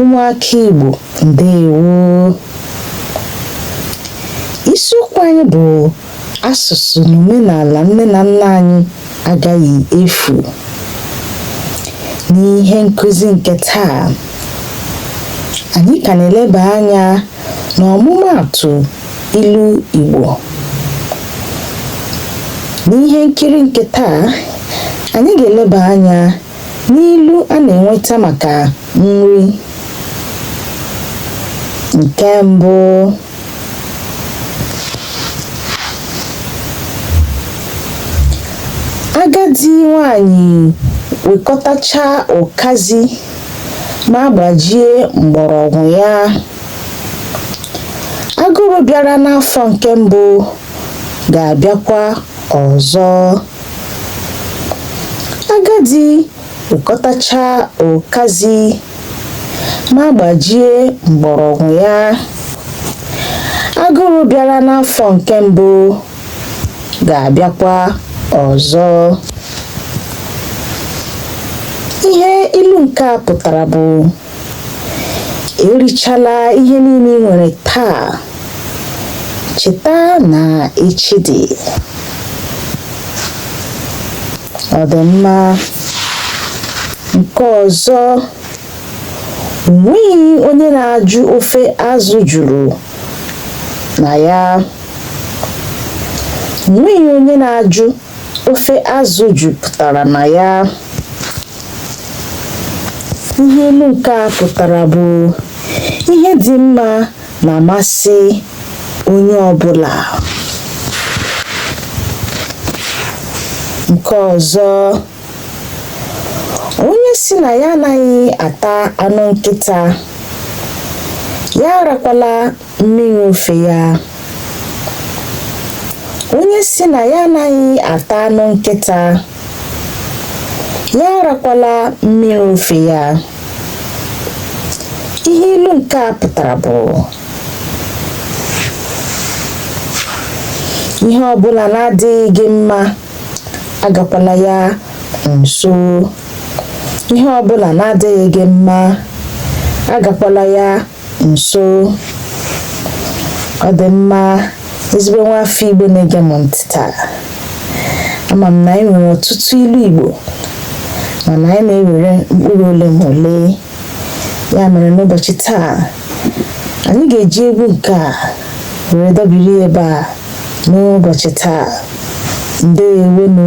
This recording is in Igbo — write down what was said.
ụmụaka Igbo ndewo isiokwu anyị bụ asụsụ na omenala nne na nna anyị agaghị efu n'ihe nkụzi nke taa anyị ka na-eleba anya n'ọmụmaatụ ilu Igbo n'ihe nkiri nke taa anyị ga-eleba anya N'ilu a na-enweta maka nri nke mbụ agadi nwanyị wekọtachaa ụkazi ma gbajie mgbọrọgwụ ya agụrụ bịara n'afọ nke mbụ ga-abịakwa ọzọ agadi wekọtachaa ụkazi ma gbajie mgbọrọgwụ ya agụrụ bịara n'afọ nke mbụ ga-abịakwa ọzọ ihe ilu nke a pụtara bụ erichala ihe niile ị nwere taa cheta na echi dị ọ dị mma nke ọzọ onweghị onye na-ajụ ofe azụ juru na ya onweghị onye na-ajụ ofe azụ jupụtara na ya ihe ilu nke a pụtara bụ ihe dị mma na-amasị onye ọbụla nke ọzọ onye si na ya anaghị ata anụ nkịta ya arakwala mmiri ofe ya onye si na ya anaghị ata anụ nkịta ya arakwala mmiri ofe ya ihe ilu nke a pụtara bụ ihe ọbụla na-adịghị gị mma agakwala ya nso ihe ọbụla na-adịghị gị mma agakwala ya nso ọ dị mma ezigbo nwa afọ Igbo na-ege m ntị taa ama m na anyị nwere ọtụtụ ilu Igbo mana anyị na-ewere mkpụrụ ole ma ole ya mere n'ụbọchị taa anyị ga-eji egwu nke a were dọbiri ya ebe a n'ụbọchị taa ndewonụ